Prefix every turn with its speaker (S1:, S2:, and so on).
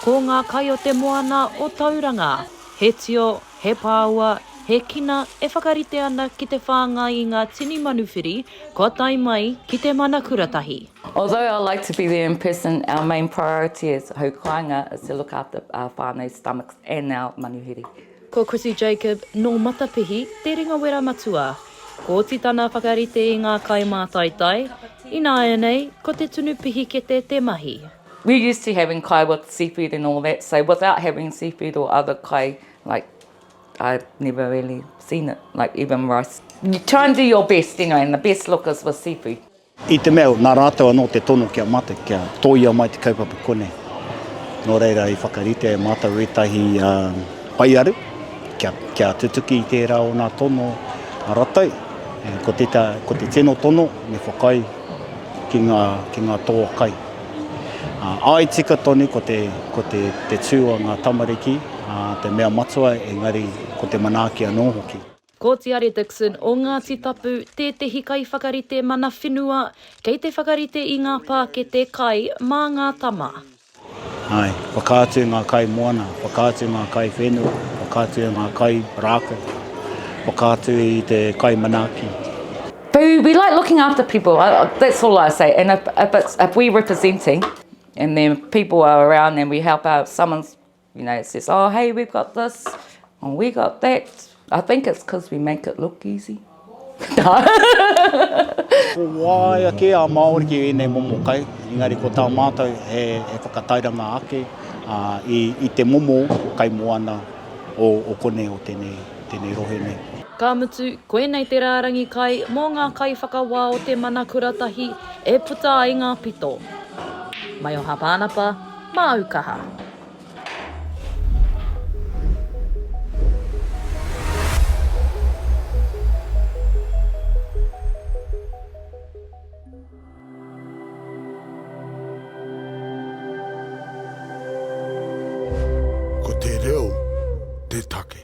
S1: Ko ngā kai o te moana o Tauranga, he tio, he pāua, he kina e whakarite ana ki te whāngai i ngā tini manuwhiri kua tae mai ki te mana kuratahi. Although I like to
S2: be there in person, our main priority as hau kāinga is to look after our whānau stomachs and our manuwhiri. Ko Chrissie
S1: Jacob, nō Matapihi, te ringawera matua. Ko oti tana whakarite i ngā kai mātaitai, ināianei ko te tunu pihikete te mahi. We're used to having
S2: kai with seafood and all that, so without having seafood or other kai, like, I've never really seen it, like even rice. You try and do your best, you know, and the best look is with seafood. I te mea nā
S3: rātou anō te tono kia mate, kia tōia mai te kaupapa konei. Nō reira i whakaritea e mātou ētahi whaiaru kia, kia tutuki i tērā o nā tono a ratou. Ko te, ko te tino tono me whakaae ki ngā, ki ngā toa kai. Āe tika tonu ko te ko te te tū a ngā tamariki te mea matua engari ko te manaaki anō hoki. Ko Tiare
S1: Dixon o Ngāti Tapu tētehi kaiwhakarite mana whenua kei te whakarite i ngā pākete kai mā ngā tama. Āe,
S3: whakaatu ngā kai moana, whakaatu ngā kai whenua, whakaatu ngā kai rākau, whakaatu i te kai manaaki. Boo,
S2: we like looking after people, that's all I say, and if, if, it's, if we're representing and then people are around and we help out, someone's, you know, says, oh, hey, we've got this, or we got that, I think it's because we make it look easy.
S3: ko wāia kē a Māori ki ēnei momo kai, engari ko tā mātou he, he whakatairanga ake uh, i, i te momo kai moana o, o konei o tēnei tēnei rohe nei. Ka mutu,
S1: koinei te rārangi kai mō ngā kaiwhakawā o te mana kura tahi e puta ai ngā pito. Maio Hāpānapa, māu kaha.
S4: Ko te reo te take.